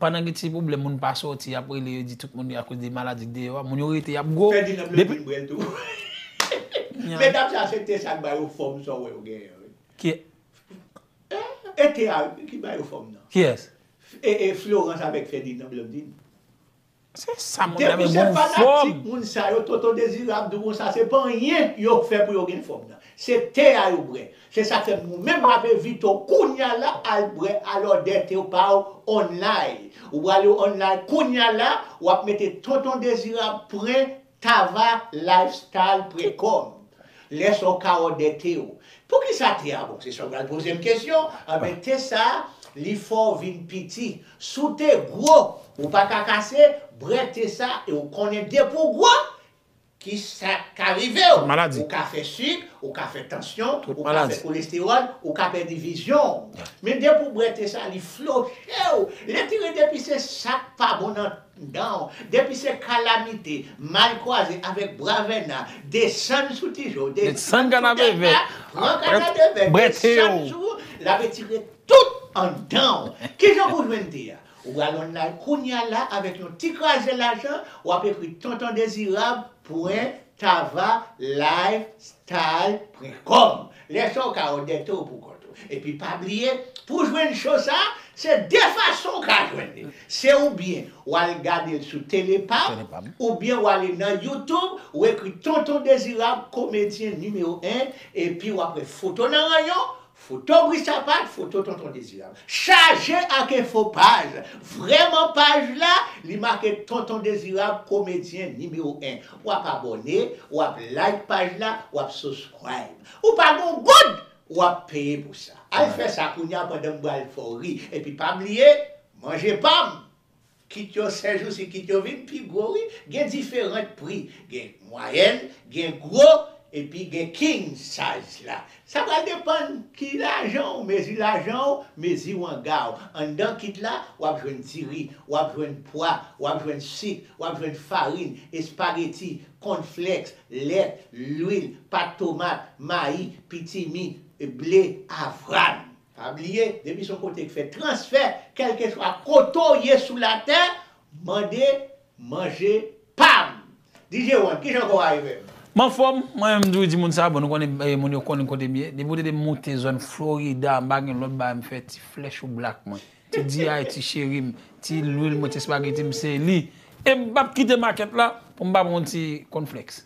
Pandan gen ti pwoblèm moun pa sòti yap rele yo di tout moun yo akoz de maladi k deyò a, moun yo rete yap gwo. Ferdinand m renmen Brel tou. Medam sa se te sa k ba yo fòm sa w wè yo genyen an wi. E te a ki ba yo fòm nan. Kiyès? Florence avèk Ferdinand Blandine. Se sa moun nan men gon fòm. Moun sa yo tonton dezirab di w konsa se pa anyen yo fè pou yo gen fòm nan se te a yo bwè se sak fè moun menm lave vite w kounya la al bwè a lòdè te pa w online ou prale online kounya la wap mete tonton dezirab pren Tava lifestyle pre kòm lè sa w kawò dè te w poukisa te a bon se sa w pral poze m kesyon anben te sa li fè w vin piti si w te gwo ou pa ka kase brè te sa e w konnen depi w gwo ki sa k ka rive w ou ka fè sik ou ka fè tansyon ou ka fè kolestewòl ou ka pèdi vizyon w men depi w brè te sa li floche w lè te rete pi se sa k pa bon nan Donw, depi se kalamite, mal kwaze avèk bwa vèna, desann sou ti je w, desann sou tèt la, pran kanadevè, desann sou ou, l ap etire tout anndan w. Kijan pou w jwenn te a? Ou pral onlay kounya la avèk yon ti kraze lajan, w ap ekri tontondezirab pwen tava live style pwen kòm. Lè sa w ka andète w pou kont ou. Epi pa bliye, pou w jwenn cho sa, se de fason w ka jwenn li. Se oubyen w al gade l sou Tele pa m, oubyen w ale nan YouTube, w ekri Tonton Dezirab, komedyen nimewo 1, epi w apre foto nan ranyon, foto Bri Sapat, foto Tonton Dezirab. Chaje ak enfo paj! Vrèman paj la, li make Tonton Dezirab, komedyen nimewo 1. wap abòne, wap like paj la, wap subscribe. Ou pa gon goud! Wap peye pou sa. Al fè sa kounya pandan m pral fè w ri. Epi pa bliye, manje pa m! Kit yo sèjousi kit yo vin pi gwo wi, gen diferant pri. Gen mwayèn, gen gwo, epi gen king size la. Sa pral depann ki lajan w mezi lajan w, mezi wanga w. Anndan kit la, w ap jwenn diri, w ap jwenn pwa, w ap jwenn sik, w ap jwenn farin, espageti, kònflèks, lèt, lwil, pat tomat, mayi, pitimi, ble, avwàn. Pa bliye, depi se yon kote ki fè transfè, kèlkeswa kote w ye sou latè, mande manje pam! DJ one, kijan kò w arrive? M anfòm, mwen menm m toujou di moun sa, bon nou konnen moun yo konnen kote m ye, depi ou te di m moute zòn Florida m pa gen lòt bagay m fè, ti flèch ou black mwen, ti D.I. ti cheri m, ti lwil mwen, ti espageti m se li. E m p ap kite makèt la pou m pa pran yon ti kònflèks.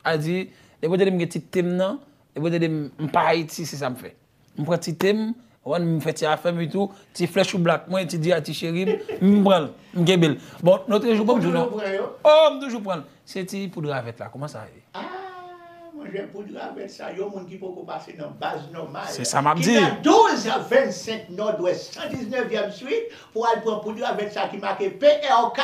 A di, depi ou te di m gen ti te m nan, depi ou te di m m pa Ayiti se sa m fè. M pran ti tem, konprann, m fè ti afèm e tou, ti flè chou black mwen, ti diyay, ti cherim, m pran l, m kenbe l. Bon, lotre jou banm di non. Ou toujou pran yo? Oh, m toujou pran l. Se ti poud ravèt la, kouman sa ye? Ah, mon jè, poud ravèt sa, yon moun ki poko pase nan baz nòmal. Se sa map di. Ki nan 12 a 25 nòdwès 119 vièm swit pou al pran poud ravèt sa ki make PRK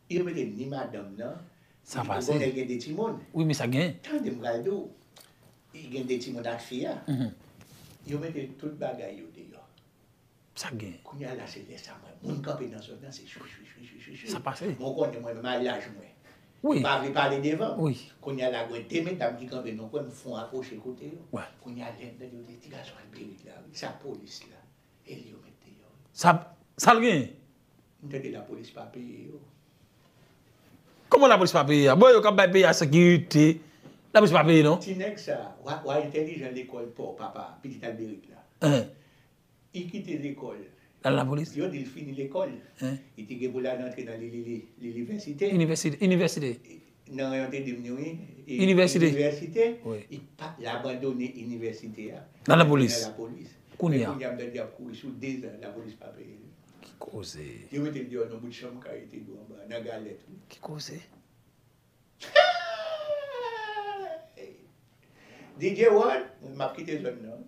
Yo mete ni madanm nan, sa pase. Ebonè gen 2 timoun. Wi men sa gen. Tande m pral di w. Li gen 2 timoun ak fi a. Yo mete tout bagay yo deyò. Sa gen. Kounye a la se lè sa mwen moun kanpe nan zòn nan se chwichwichwichwichwichwi. Sa pase. Bon w konnen mwen menm a laj mwen. Wi. M pa vle pale devan. Wi. Kounye a la gwen 2 medam ki kanpe nan kwen m fon apwoche kote yo. Wi. Kounye a lè m tande yo di ti gason al perik la wi sa polis la. El yo met deyò wi. Sa sal genyen? M tande la polis pa peye yo. Kòman la polis pa peye a? Bon yo kap bay peyi a sekirite, la polis pa peye non. Ti nèg sa, wa entèlijan lekòl paw papa pitit Alberic la. Li kite lekòl. Lal la polis. Yo dil fini lekòl. Li te gen pou lal antre nan li li li li li vèsite. Inivèsite. Nan rayon te dim ni wi. Inivèsite. Inivèsite. Wi. Li pat la abandone inivèsite a. Nan la polis. Nan la polis. Kounye a. Men kounye a mtande yap kouri sou 2 zan la polis pa peye li. Ki koze. Yo mete l deyò nan bout chanm kay li te dou anba nan galèt wi. Ki koze. Hey! DJ Rod, map kite zòn nan wi.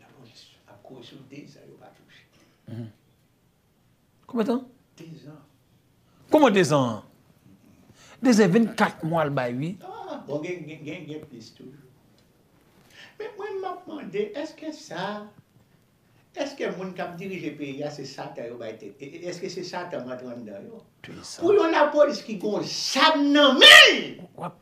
Lapolis ap kouri sou 2 zan yo pa touche. Konbyen tan? 2 zan. Kouman 2 zan? 2 zan 24 mwa l bay wi. Ah bon gen gen gen plis toujou. Men mwen map mande eske sa eske moun kap dirije peyi a se satan yo bay tèt e eske se satan rantre anndan yo? Pou yon lapolis ki gon zam nan men l!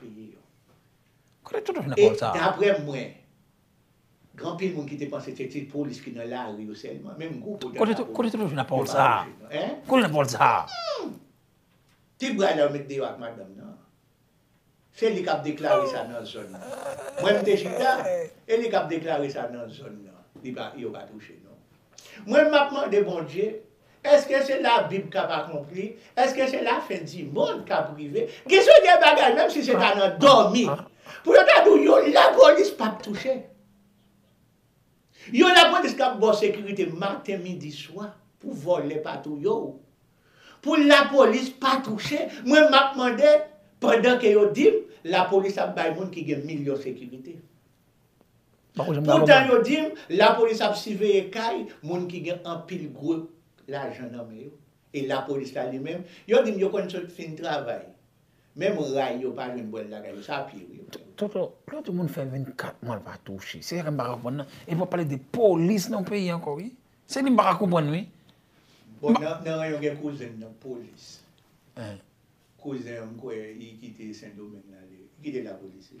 peye yo. Kote tout vin pawòl sa a? E daprè mwen, gen anpil moun ki te panse se ti polis ki nan lari yo sèlman, menm gwo polis ak lapolis. Kote tout vin ak pawòl sa a? Kote tout vin ak pawòl sa a? Ti bray la yo met deyò ak madanm nan. Se li k ap deklare sa nan zòn nan. Mwen m te chita, e li k ap deklare sa nan zòn nan. Yo pa touche non. Mwen m ap mande Bondye Eske se la bib kap akonpli? Eske se la fen di mond kap rive? Gen se de bagay menm si se ta nan domi pou yo ta di w yon la polis pap touche. Yon la polis kap baw sekirite maten midi swa pou vole pa touye w. Pou la polis pa touche mwen map mande pandan ke yo dim la polis ap bay moun ki gen milyon sekirite. Poutan yo di m lapolis ap siveye kay moun ki gen anpil gwo lajan nan men yo. E lapolis la li menm, yo di m yo konn sot fin travay. Menm ray yo pa jwenn bwèl lakay yo, sa pi ri. Toto, lè di moun fè 24 mwa l pa touche, se sa ke m pa ka konprann nan. E pou w ap pale de polis nan yon peyi ankò wi. Se li m pa ka konprann wi. Bon, nan ranyon gen kouzen m nan polis. Kouzen an m kwè li kite Sendomeng la, li kite lapolis li.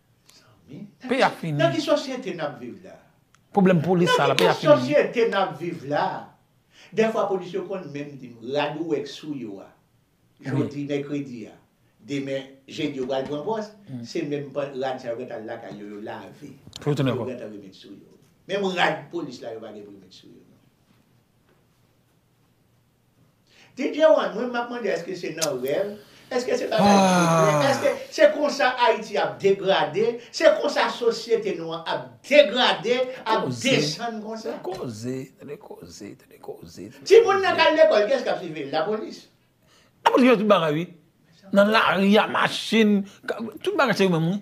Peyi a fini. Nan ki sosyete nap viv la? Pwoblèm polis sa la peyi a fini. Nan ki sosyete nap viv la? Dèfwa polis yo konn menm di m, rad ou wè k sou yo a, jodi mèkredi a, demen jedi yo pral pran pòs, se menm rad sa yo gentan al lakay yo, yo lave, yo gentan remet sou yo. Menm rad polis la yo pa gen pou yo met sou yo. DJ one mwen map mande eske se nan rèv, eske se bagay ki vre, eske se konsa Ayiti ap degrade, se konsa sosyete nou an ap degrade, ap desann konsa. Koze, tande koze, tande koze. Ti moun nan kal lekòl kiyès kap siviv l? Lapolis? Lapolis fè tout bagay wi. Nan lari a machin, tout bagay se yo menm wi.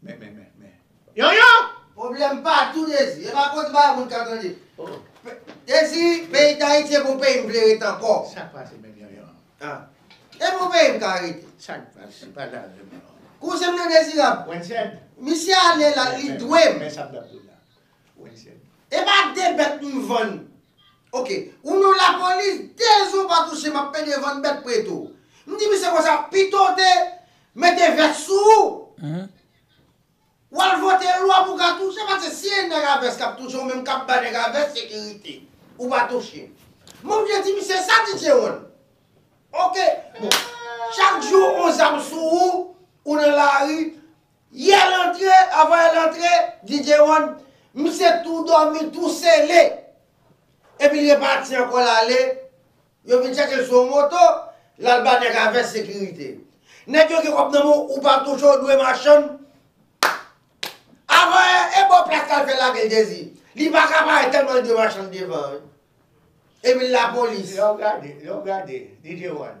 Men men men men. Yon yon! Pwoblèm patou Dezi. E pa konte bagay moun ka tande. Dezi, peyi Dayiti e pou peyi m vle rete ankò. Sa k pase menm yon yon? Ah. E pou peyi m ka rete. Sa k pase? Pale avè m yon yon. Kouzen m nan Dezirab. Wensen. Misye ale la, li dwe m. Men sa m t ap di w la. Epa de bèt m vann ok ou non lapolis de jou ou pa touche map pede vann bèt prete w m di misye konsa pitow te mete vès sou ou wal vote lwa pou ka touche paske si e nèg a vès kap touche ou menm kap ba nèg a vès sekirite ou pa touche m oblije di misye sa DJ one ok bon chak jou on zam sou ou ou nan lari Yè l antre, avan el antre, DJ One, misye tou dòmi, tou sele. Epi l repati ankò l ale, yo vin chache l sou yon moto, l al ba nèg a vès sekirite. Nèg yo gen kòb nan men w, ou pa touche, w dwe machann. Avan e, e bon plas la l fè lage l Jezi. Li pa ka parèt tèlman li dwe machann devan an wi. Epi lapolis. Lè w gade, lè w gade, DJ One.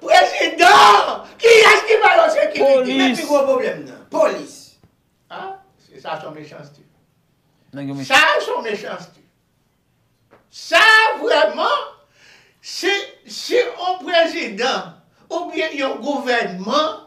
Prezidan! Kiyès ki ba yo sekirite? Ki pi gwo pwoblèm nan? Polis! Ah! Sa son mechanste. Sa son mechanste. Sa vrèman, si on prezidan oubyen yon gouvènman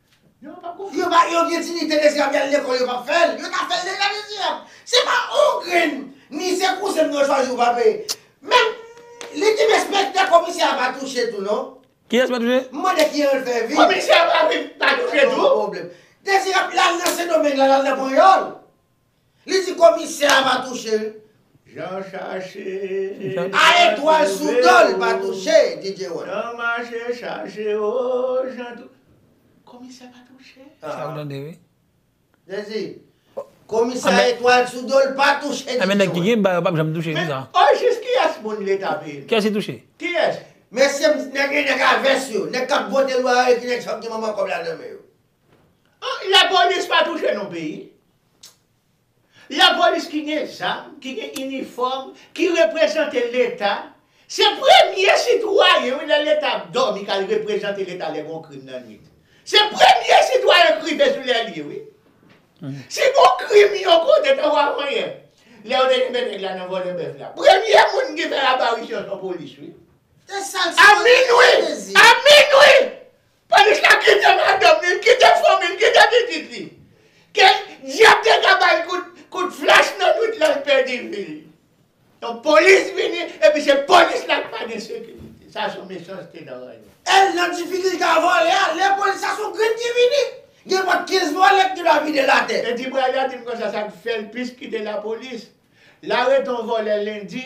Yo pa yo gen dinite mesye yap yal lekol yo pap fel yo ta fel deja mesye yap se pa on grenn ni se kouzen m yo chwazi yo pa peye menm li dim enspektè komisè a pa touche tou non Kiyes pa touche? M mande kijan l fè viv. Komisè a pa viv pa touche tou? Dezirab lal nan sendomeng la lal nan panyòl. Li di komisè a pa touche l. Jan chache. A etwal sou do l pa touche DJ One. Jan mache chache o jan tou. Komisè pa touche. Sa w tande wi. Jezi. Komisè a etwal sou do l pa touche DJ One. Anben nèg ki gen ba yo pap janm touche konsa. Men ojis kiyès moun leta peye. Kiyès li touche. Kiyès. Mesye nèg gen nèg a vès yo. Nèg kap vote lwa yo e ki nèg sa yo ki gen manman kòb la nan men yo. La polis pa touche non peyi. La polis ki gen zam, ki gen inifòm, ki reprezante leta, se premye sitwayen wi lè leta ap dòmi kal reprezante leta lè gon krim nan nwit. Se premye sitwayen k rive sou lè li wi. Si gon krim yon kote tankou avanyè lè yo te kenbe nèg la nan vòlè bèf la, premye moun ki fè aparisyon son polis wi. A minwi! A minwi! Panichka kite madanm li, l kite fanmi l, kite pitit li. Ke dyab te ka ba l kout flach nan nwit la l pèdi vi l. Yon polis vini epi se polis la ki pa gen sekirite. Sa son mechanste nan ranyon. El nan difikilte a vole a le polis la son grenn ki vini. Gen pot 15 vole ki te dwa vide l ate. Edi bra la di m konsa sa k fè l plis kite lapolis. L arete yon vole lendi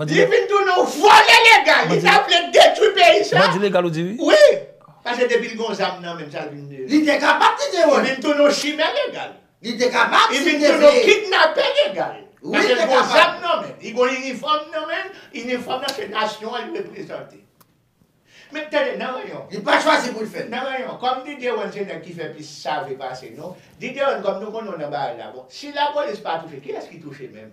Li vin tounen yon vòlè legal, li ta vle detwi peyi sa. Bandi legal ou di wi? Wi! Pase depi li gen yon zam nan men l sa l vin tounen. Li te kapab ti te wòl. Li vin tounen yon chimè legal. Li te kapab si l te vle. Li vin tounen yon kidnapè legal. Wi li te kapab. Pase l gen yon zam nan men l, li gen yon inifòm nan men l, inifòm nan se nasyon an li reprezante. Men tande nan reyon. Li pa chwazi pou l fè l. Nan reyon, kòm Diderone se nèg ki fè plis save pase nou, Diderone kòm nou konnen w nan barèl la bon, si lapolis pa touche, kiyès ki touche menm?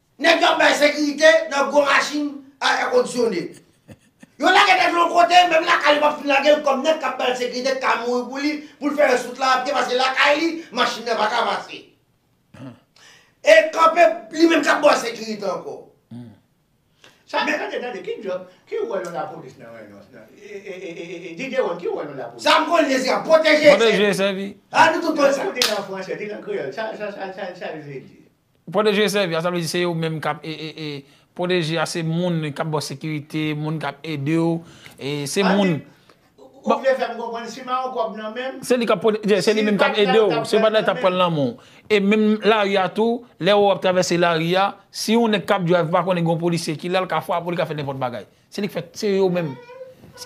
Nèg yo ap bay sekirite nan gwo machin a èkondisyone. Yo lage nèg lan yon kote, menm lakay li pap fin lage l kòm nèg k ap ba l sekirite ka mouri pou li, pou l fè rès wout la a pye paske lakay li, machin nan pa ka pase. E kanpe li menm k ap ba w sekirite ankò. Sa tande tande, ki djòb, ki wòl yon lapolis nan yon e DJ One ki wòl yon lapolis? Sa m konnen se sa, pwoteje e sèvi. Pwoteje e sèvi. A nou tout konn sa. Di l an fransè, di l an kreyòl, sa l vle di? Pwoteje sèvi a sa vle di se yo menm kap pwoteje a se moun kap baw sekirite, moun kap edew, se moun. Ou vle fèm konprann si pa yon kòb nan menm. Se li kap pwoteje, se li menm kap edew, si yo pat la li tap pran nan menw. E menm lari a tou, lè ou wap travèse lari a, si yon nèg kap drive pa konnen gen yon polisye ki la li ka frapew li ka fè nenpòt bagay. Se li k fè, se yo menm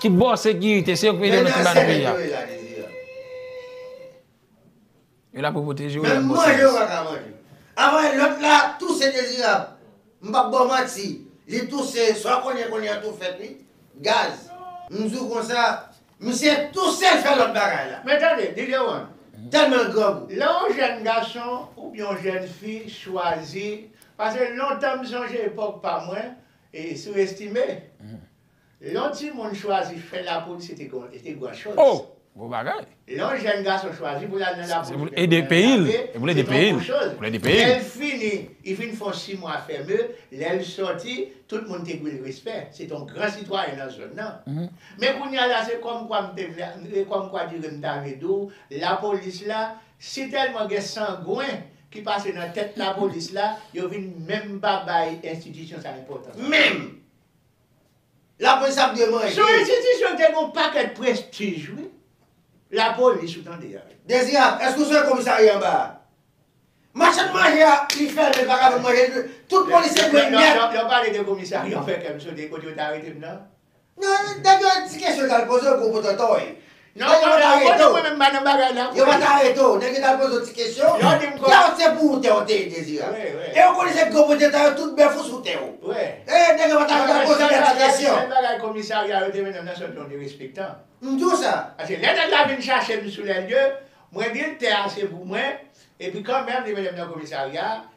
ki baw sekirite, se yo k ede nan ti bagay peyi a. Yo la pou pwoteje w Menm manje yo pa ka manje Anmwey lòt la touse Dezirab m pap ba w manti li touse sa w konnen konnen an tou fèt wi Gaz m di w konsa misye touse l fè lòt bagay la Men tande DJ One tèlman l grangou. Lè yon jèn gason oubyen yon jèn fi chwazi pase lontan m sonje epòk pa mwen e sou estime. Lè yon timoun chwazi fè lapolis se te gon, se te gran chòz. Oh! Gwo bagay. Lè yon jèn gason chwazi pou l al nan lapolis oubyen pou l al nan lame, se te gon gwo chòz. Se pou l ede peyi l. Lè l fini, li fin fè yon si mwa fèmen, lè l sòti, tout moun te dwe l respè. Se te yon gran sitwayen nan zòn nan. Men kounye a la, se kòm kwa m te vle, se kòm kwa dire m ta vle di w, lapolis la, si tèlman gen sangwen ki pase nan tèt lapolis la, yo vin menm pa bay enstitisyon sa enpòtans. Menm! Lapolis ap demande. Sou enstitisyon te gen yon pakèt prestij wi. Lapolis ou tande a. Dezirab, èske ou sonje komisarya anba a? Machann manje a li fèmen pa ka vann manje li tout polisye dwe nèt. Lè w pale de komisarya ou fè kè m sote kote yo te arete m nan? Non, nèg yo di kesyon yo t al poze w gwo potòtòy. Non yo pa ta rete w. Yo pa ta rete w. Nèg yo ta poze w ti kesyon. Tè w se pou ou tè w te ye Dezirab. E ou konnen se gwo pwopriyetè yo tout bèf ou sou tè w. E nèg yo pa ta rete w poze tèt ti kesyon. Sèl bagay komisarya yo te mennen m nan se yon ton derespektan. M di w sa. Paske lè nèg la vin chache m sou lèlye, mwen di l tè a se pou mwen, epi kanmenm li mennen m nan komisarya,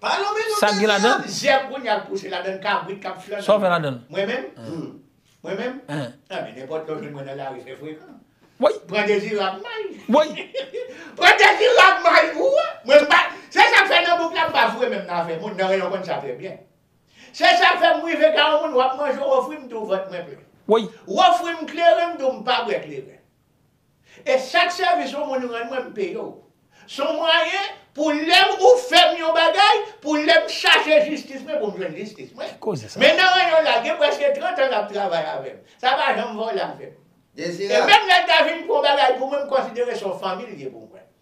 Pa nonmen non Sak gen la dan? Dezeyèm jèm kounye a l kouche ladan l kabrit k ap flann. Sa w fè ladan l? Mwen menm? Mwen menm? Anben nenpòt lè w jwenn mwen nan lari fè frekan. Woy! Pran Dezirab may. Woy! Pran Dezirab may pou wè! Mwen m pa Se sa k fè nan bouk la m pa foure menm nan afè moun, nan reyon konn sa trè byen. Se sa k fè m rive ka yon moun w ap manje w ofri m tou vant mwen plen. Woy! W ofri m kleren m di w m pa bwè kleren. E chak sèvis ou moun rann mwen m peye w. S on mwayen pou lè ou fè m yon bagay, pou lè m chache jistis mwen pou m jwenn jistis mwen. Ki koze sa? Men nan ranyon la gen prèske 30 an l ap travay avè m. Sa pa janm vole avè m. E menm lè l ta vin pou yon bagay pou mwen m konsidere s on fanmi l ye pou mwen.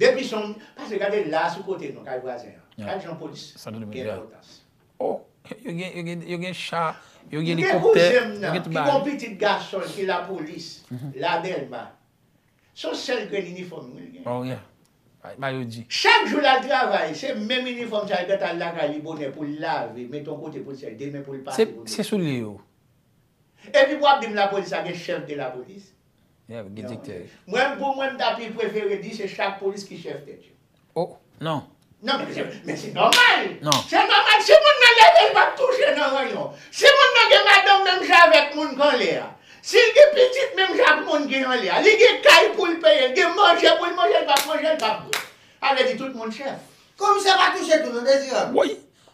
Depi son pase gade la sou kote nou kay vwazen an. Gad jan polis gen enpotans. Oh yo gen cha, yo gen elikoptè, yo gen tout bagay. Mgen kouzen m nan ki gon pitit gason l ki lapolis la delma. Son sèl grenn inifòm wi l gen. Oh yeah bay yo di. Chak jou lal travay se menm inifòm sa li pèt al lakay li bonè pou l lave met on kote pou l sèl demen pou l pase pou l met. Se soulye yo. Epi pou wap di m lapolis la gen chèf de lapolis. Yap gen diktè. Mwen pou mwen m ta pi prefere di se chak polis ki chèf tèt yo. Oh non. Non men se men se nòmal. Non. Se nòmal si moun nan leve l pap touche nan ranyon. Si moun nan gen madanm menm jan avèk moun k anlè a. Si l gen pitit menm jan ak moun ki anlè a. Li gen kay pou l peye, li gen manje pou l manje, l pap manje, l pap bwè. Sa vle di tout moun chèf. Komisè pa touche tou non Dezirab. Woy!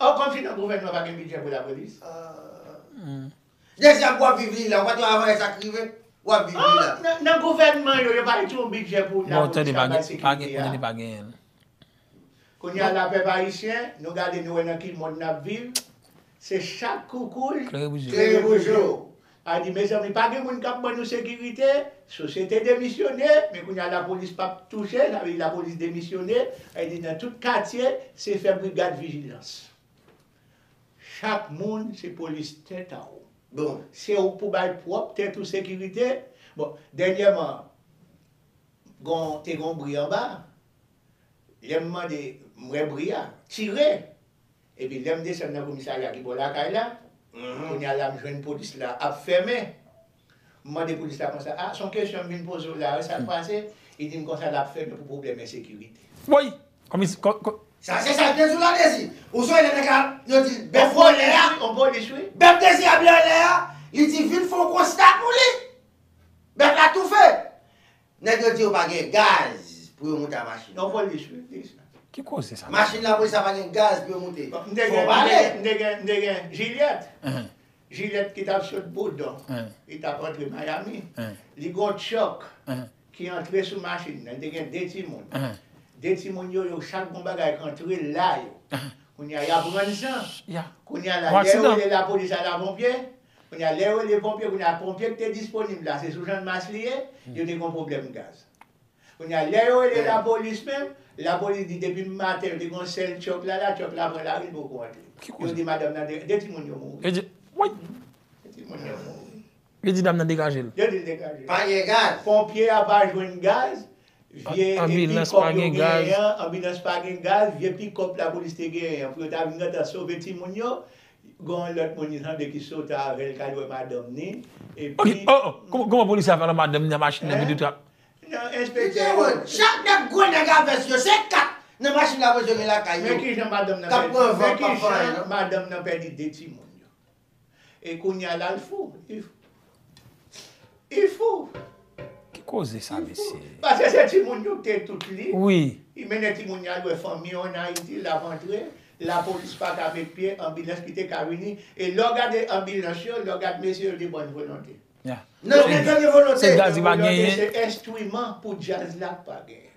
Ou konn si nan gouvènman pa gen bidjè pou lapolis? Dezyèm wap viv li la, ou pa tande avan lè sa k rive? Wap viv li la. Ah! Nan gouvènman yo, yo pa mete yon bidjè pou lapolis kap bay sekirite a? Bon, tande pa gen, tande pa gen. Kounye a la pèp ayisyen, nou gade nou wè nan ki mond nap viv, se chat koukouy, klere boujou. A di mezanmi pa gen moun kap ban nou sekirite, sosyete demisyone, men kounye a lapolis pap touche, sa vle di lapolis demisyone, e di nan tout katye se fè brigad vijilans. Chak moun se polis tèt a w. Bon, se ou k pou bay pwòp tèt ou sekirite. Bon, dènyèman gon te gon bri anba, lè m mande m wè bri a, tire! Epi lèm desann nan komisarya ki bò lakay la, kounya la m jwenn polis la ap fèmen. M mande polis la konsa, a, son kesyon m vin poze w la wi, sa k pase? Li di m konsa l ap fèmen pou pwoblèm ensekirite. Woy! Komis. Ko. Sa se sa Dezou la dezi. Ou sonje lè nèg la yo di bèf vòlè a? On polis wi. Bèf dezi a byen anlè a, li di vin fè yon konsta pou li. Bèf la toufe. Nèg yo di yo pa gen gaz pou yo moute a machin la. Yon polis wi ki di sa. Ki koze sa. Machin lapolis la pa gen gaz pou yo moute. M te gen, m te gen, m te gen Jilyèt. Jilyèt ki t ap sot Boudon. Li t ap antre Mayami. Li gen yon tchòk ki antre sou machin nan. Li te gen 2 timoun. 2 timoun yo, yo chak gen yon bagay k antre la yo. Kounye a y ap rann san. Kounye a la, lè yo rele lapolis a laponpye. Kounye a, lè yo rele ponpye, kounye a, ponpye ki te disponib la, se sou Jannmas li ye, yo te gen yon pwoblèm gaz. Kounye a, lè yo rele lapolis menm, lapolis di depi maten yo te gen yon sèl tyòk la la, tyòk la pran lari, li poko antre. Yo di madanm nan degaje l. De timoun yo mouri. De timoun yo mouri. Yo di dam nan degaje l. Yo di l degaje l. Pa gen gaz. Ponpye a pa jwenn gaz, Vye epi Ambulance kòb pa yo gen gaz. genyen an, anbilans pa gen gaz, vye pikòp lapolis te genyen an pou yo ta vin gentan sove timoun yo, gen yon lòt moun li tande ki soti avè l k al wè madanm ni, Ok, epi oh oh, kòman kòman polisye a fè al wè madanm ni nan machin nan epi tout sa? nan Li enspektè gen yo. wont. Chak nèg gwo nèg a vès yo, se 4 nan machin la mwen jwenn lakay Men yo, kijan madanm nan k ap pèdi, pran van men k ap kijan fè anyen non. madanm nan pèdi 2 timoun yo. E kounya la l fou. Li fou. Ki koze sa mesye? Pase se timoun yo ki te tout li. Wi. Li mennen timoun yo al wè fanmi yo an Ayiti, la rantre, lapolis pa ka met pye, anbilans ki te ka vini. E lè w gade anbilans yo, lè w gade mesye yo de bòn volonte. Nan, se de bòn volonte. Se djaz li pa genyen. Se enstriman pou djaz la pa genyen.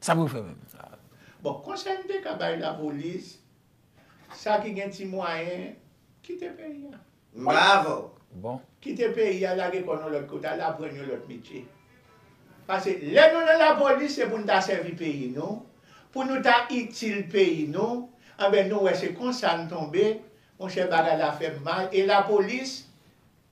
Sa pou yo fè menm? Bon, konsèy m te ka bay lapolis, sa ki gen ti mwayen, kite peyi a. Bravo! Bon. Kite peyi a, lage kò nou lòt kote, al aprann yon lòt metye. Pase lè nou nan lapolis, se pou nou ta sèvi peyi nou, pou nou ta itil peyi nou, anben nou wè se konsa n tonbe, monchè bagay la fè m mal, e lapolis,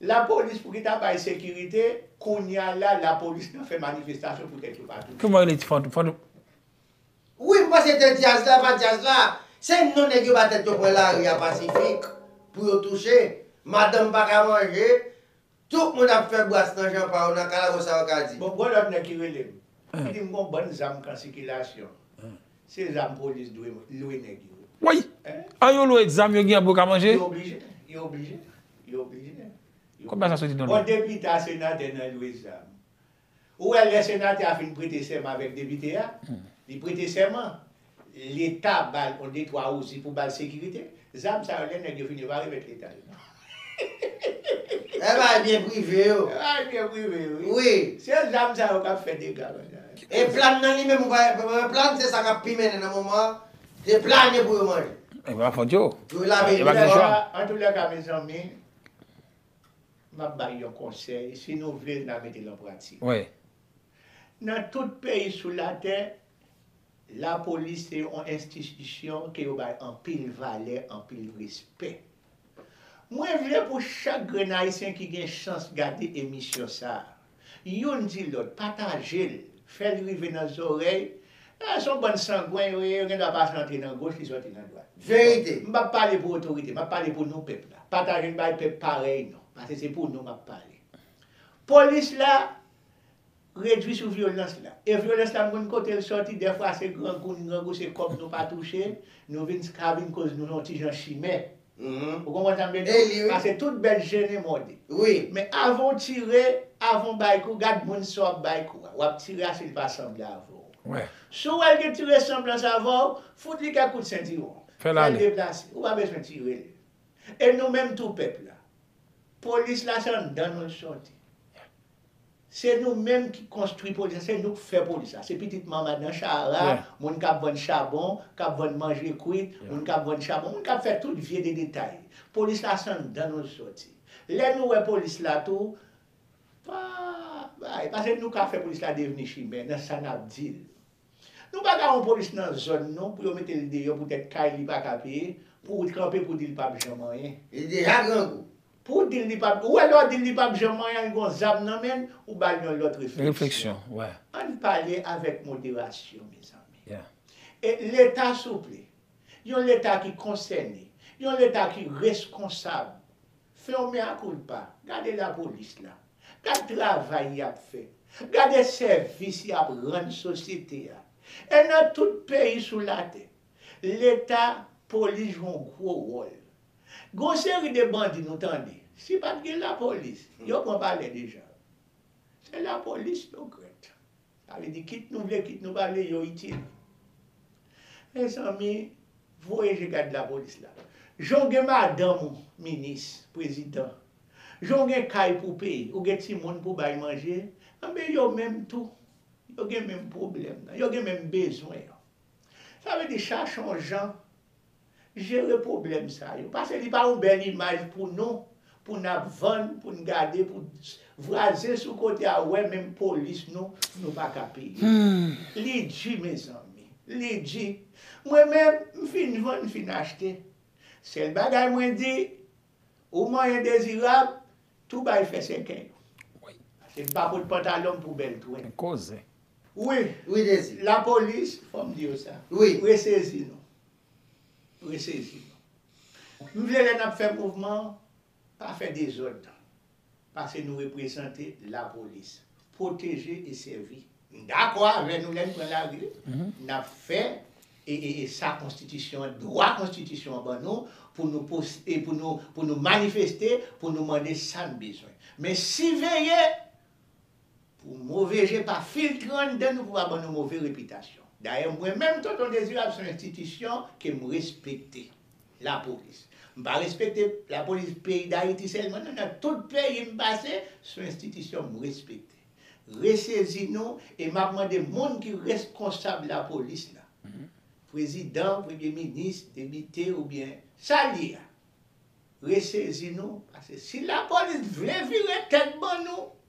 La police pou ki ta bay sekirite kounya la la police nan fè manifestation pou tèt yo pa tounen. Kouman yo rele ti fadou fadou. Wi m panse te dyaz la pa dyaz la se non nèg yo ba tèt yo pran lari a pasifik pou yo touche madanm pa ka manje tout moun ap fè bras nan jan pa yo nan kalabò sa yo ka di. Bon g'on lòt nèg ki rele m ki di m g'on bann zam kan sikilasyon Se zam polis dwe lwe neg yo. Woy! An yo lwe zam yo gen pou yo ka manje? Yo oblije, yo oblije, yo oblije. Kob la sa soti nan men? Bon depite a senate nan lwe zam. Ou wè lè senate a fin prete sèman avek depite a, li prete sèman, leta bal on de twa ouzi pou bal sekirite, zam sa yo lè neg yo fin yo pa remet leta yo. Eeh bagay byen prive yo. Se bagay byen prive yo wi. Wi. Se zam sa yo kap fè dega konsa. E plan nan li menm ou pa wè plan se sa kap pi mennen nan moman an se plane pou yo manje. Epi wap fon djo. Yo lave yo fò. Antoulèka mezanmi map bay yon konsèy si nou vle na metel an pratik. Wi. Nan tout peyi sou latè lapolis se yon enstitisyon ke yo bay anpil valè anpil respè. Mwen vle pou chak grenn ayisyen ki gen chans gade emisyon sa, youn di lòt, pataje l, fè l rive nan zòrèy, eh son bann sangwen yo ye, yo gen dwa pase antre nan goch li sòti nan dwat. Verite! M pap pale pou otorite, m ap pale pou nou pèp la. Pataje n bay pèp parèy nou, pase se pou nou m ap pale. Polis la. Redwi sou vyolans la. E vyolans la m konn kote l sòti, dèfwa se grangou, n grangou se kòb nou pa touche, nou vin skavin koz nou yon ti jan chimè. Ou konprann sa m vle di w? Pase tout bèt jennen mòde. Men avan w tire, avan w bay kou, gad moun sa w ap bay kou a. W ap tire a si l pa sanble avè w. Si w wè l gen ti resanblans avè w, fout li kèk kout sentiwon. Fè l deplase. Ou pa bezwen tire l. E nou menm tou pèp la. Polis la se anndan nou l sòti. Se nou menm ki konstwi polis la, se nou k fè polis la. Se pitit manman nan Shahara, moun kap vann chabon, kap vann manje kwit, moun kap vann chabon, moun kap fè tout vye de detay. Polis la se anndan nou l soti. Lè nou wè polis la tou, pa bay, pase nou ka fè polis la devni chimè nan sa nap di l. Nou pa ka yon polis nan zòn nou pou yo mete l deyò poutèt kay li pa ka peye, pou ou kanpe pou di l pap janm anyen. Li deja grangou. Pou ou di l li pap, ou wè lè w di l li pap janm anyen l gon zam nan men l, ou ba l yon lòt refleksyon. Ann pale avèk moderasyon mezanmi. E leta souple, yon leta ki konsène, yon leta ki reskonsab. Fè yon mea culpa, gade la police la, gad travay yap fè, gade sèvis yap rann sosyete a, e nan tout peyi sou latè, leta, police jwe yon gwo wòl. Gen yon seri de bandi nou tande, si pat gen la police, yo pran palè deja. Se la police yo grèt. Sa vle di kit nou vle kit nou pa vle yo itil. Mezanmi voye je gad lapolis la. Jan w gen madanm ou minis, prezidan, jan w gen kay pou w peye, ou gen timoun pou w bay manje, enben yo menm tou, yo gen menm pwoblèm nan, yo gen menm bezwen an. Sa vle di chache yon jan jere pwoblèm sa yo. Pase li pa yon bèl imaj pou nou, pou n ap vann, pou n gade, pou vwazen sou kote a wè menm polis nou, nou pa ka peye. Li di mezanmi. Li di. Mwen menm, m fin vann, m fin achte. Sèl bagay mwen di. Ou mwen endezirab, tou bay fè sèkèy. Ase m pa pot pantalon m pou bèl twèy. Gen koze. Wi, wi Dezi. Lapolis, fò m di yo sa. Wi. Resezi nou. Resezi nou. M vle lè n ap fè mouvman, pa fè dezòd. pase nou reprezante lapolis. Pwoteje e sèvi. M dakò avè nou lè n pran lari, n ap fè sa konstitisyon an, dwa konstitisyon an ban nou pou nou poste, pou nou manifeste, pou nou mande sa n bezwen. Men siveye Pou move je pa filtre anndan nou pou pa ban nou move repitasyon. Dayè mwen menm Tonton Dezirab son enstitisyon ke m respekte. Lapolis. M pa respekte lapolis peyi Dayiti sèlman non nan tout peyi m pase son enstitisyon m respekte. Resezi nou e m ap mande moun ki reskonsab lapolis la. Prezidan, premye minis, debite oubyen sa l ye a. Resezi nou pase si lapolis vle vire tèt ban nou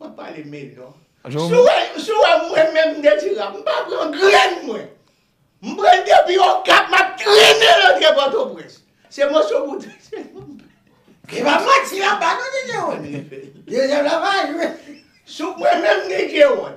Map pale mil non. Siw wè siw wè mwen menm Nedjira m pa pran grenn mwen. M pranl depi okap map trennenl antre pòtoprens. Se moso bouda. Li pa manti la ba non DJ Rony. DJ la pa jwe. Sou mwen menm DJ Rony.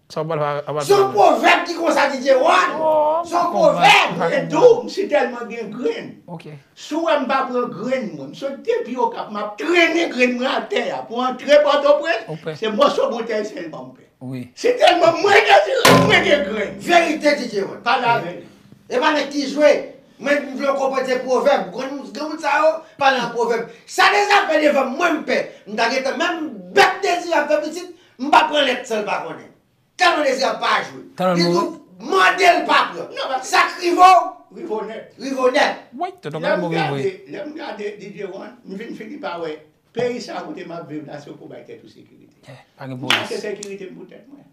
Sa wap pale a pa Son tande. pwovèb ki konsa DJ Ron. Ooh Son mpa konprann pwovèb sa mwen konprann. dou m si tèlman gen grenn. Ok. Si w wè m pa pran grenn mwen, m sot depi Okap map trennen grenn mwen atè a pou antre Pòtoprens, Ou pè. se mòso boutèy sèlman m pè. Wi. Si tèlman mwen dezire m mwen gen grenn. Verite DJ Ron, pale avè li. Epa nèg ki jwe, mwen m vle w konprann se pwovèb, ou konn gen moun sa yo pale an pwovèb. Sa Deza fè devan m mwen m pè, m ta gentan menm bèk Dezirab fè pitit M pa pran lèt san l pa konnen. Talon dezi a pa jwe. Talon mouri. Li tou mande l pa pran. Non paske. Sa k rive w. Rive w nèt. Rive w nèt. Woy tonton Kaleb mouri vre. Lè m gade DJ One, m vin fini pa wè peyi sa kote m ap viv la se w pou w bay tèt ou sekirite. Yè, pa gen polis. M chache sekirite m pou tèt mwen.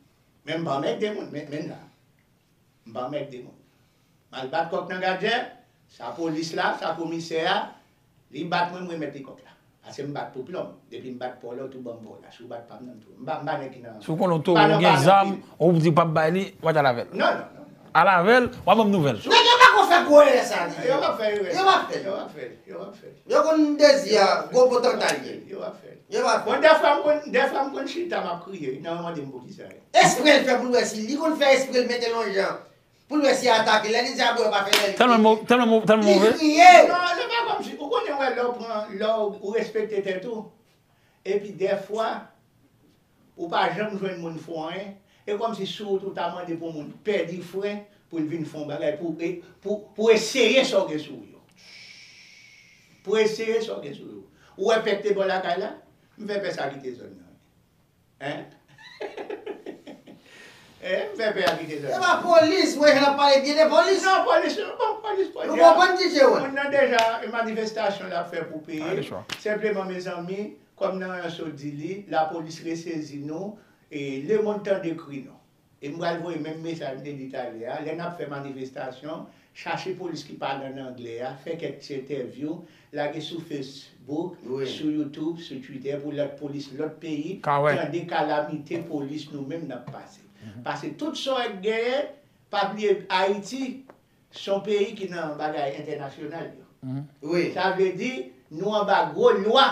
Men m pa anmègde moun, men menn la. M pa anmègde moun. Mal bat kòk nan gadjè, sa polis la, sa komisè a, li bat mwen m remèt li kòk la. Pase m bat pou plonm, depi m bat paw la w tou banm paw la, si w bat pam nan m tou, m pa m pa nèg ki nan, Si w konnen w towo w gen zam, ou p di w pap bay li, w pa t al avè l. Non non non. Al avè l, w ap banm nouvèl. Nèg yo pako fè gwo erè sa nan. Yo pap fè erè sa. Yo pap fè l. Yo pap fè l. Yo pap fè l. Yo konn Dezi a gwo potanta l ye. Yo pap fè l. Yo pap fè l. Bon dèfwa m konn, dèfwa m konn chita m ap kriye, nan yo mande m poukisa. Espre l fè pou l wè si li konn fè espre l mete lonjan Pou l wè si y a atake. Lè li di Abner pa fè lè li kriye. Telman li kriye. Non, se pa kòmsi. Ou konnen wè lè ou pran, lè ou respekte tèt ou, epi dèfwa ou pa janm jwenn moun fè w anyen, e kòmsi si ou tou ta mande pou moun pèdi fre pou l vin fè yon bagay pou pou eseye sa w gen sou ou yo. Pou eseye sa w gen sou ou yo. Ou wè pè k te bò lakay la? M fè pè sa kite zòn nan. Eeh m fè pè a kite zòn nan. Epa polis mwen jwenn ap pale byen de polis. Non polis yo pa polis polis. Nou konprann ti je wè. Moun nan deja e manifestasyon lap fè pou peyi l. Senpleman mezanmi kòm nan yon sot di li lapolis resezi nou e lemond tande kri nou. E m pral voye menm mesaj m te di talè a, lè n ap fè manifestasyon, chache polis ki pale an anglè a, fè kèk ti entèvyou, lage sou Facebook, sou YouTube, sou Twitter pou lòt polis lòt peyi tande kalamite polis nou menm n ap pase. Pase tout sa w genyen, pa bliye Ayiti, Son peyi ki nan bagay entènasyonal yo wi sa vle di nou anba gwo lwa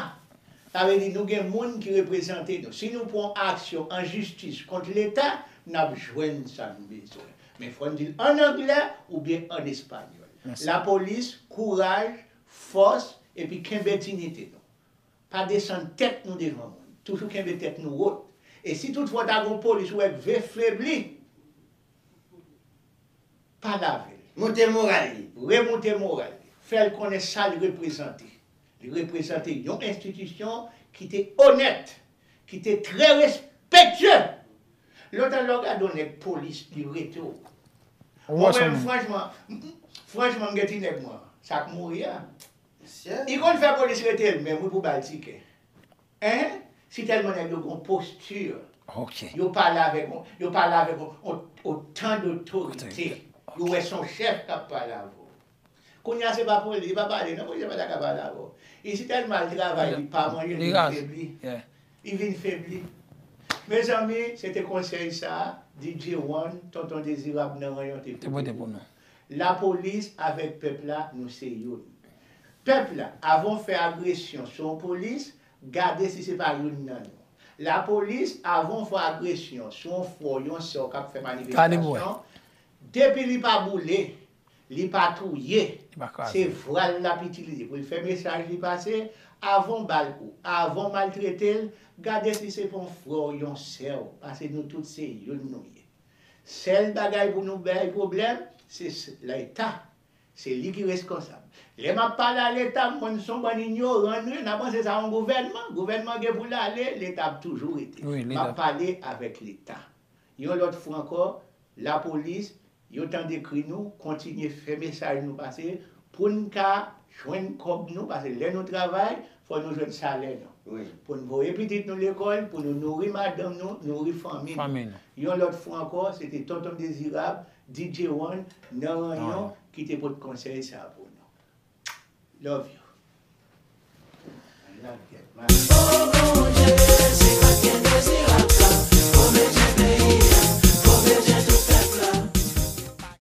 sa vle di nou gen moun ki reprezante nou si nou pwan aksyon an jistis kont leta nap jwenn sa nou bezwen men fòn dil an anglè oubyen an espanyòl lapolis kouraj fòs epi kenbe dinite nou pa desann tèt nou devan moun toujou kenbe tèt nou wot e si tout fwa ta gon polis ou wè k vle febli. Pa gave l. Monte moral li. Remoute moral li. Fè l konnen sa l reprezante. Li reprezante yon enstitisyon ki te onèt, ki te trè respektye! Lontan lè w gade yon nèg polis, li rete w. Ou wè sa m. Franchman, franchman m gen ti nèg mwen an, sa k mouri a, li konn fè polis rete l menm wi pou ba l tikè. Hein si telman neg yo gon posture yo pale avek yo pale avek otan dotorite yo we son chef kap pale avw kounya se pa police li pa pale non police pata ka pale avw e si telman al travay li pa manje li vin febli li vin febli mezanmi se te konsey sa DJ one tonton dezirab nan ranyon te pote pou nou. La polis avèk pèp la nou se youn. Pèp la avan w fè agresyon sou yon polis gade si se pa youn nan nou. La polis avan w fè agresyon sou yon frè w yon sè w kap fè manifestasyon depi li pa boule li pa touye se vwa l lap itilize pou l fè mesaj li pase avan w bal kou avan w maltrete l gade si se pa yon frè w yon sè w pase nou tout se youn nou ye. Sèl bagay pou nou bay pwoblèm se leta se li ki reskonsab lè map pale a leta m konn son bann inyoran nou ye na panse sa yon gouvènman gouvènman gen poul ale leta ap toujou rete map pale avèk leta yon lòt fwa ankò lapolis yo tande kri nou kontinye fè mesaj nou pase poun ka jwenn kòb nou pase lè nou travay Fò nou jwenn salè nou. Pou n voye pitit nou lekòl, pou nou nouri madanm nou, nouri fanmi nou. Yon lòt fwa ankò, se te Tonton Dezirab, DJ One, nan Ranyon, ki te pot konsèy sa a pou nou. Love you.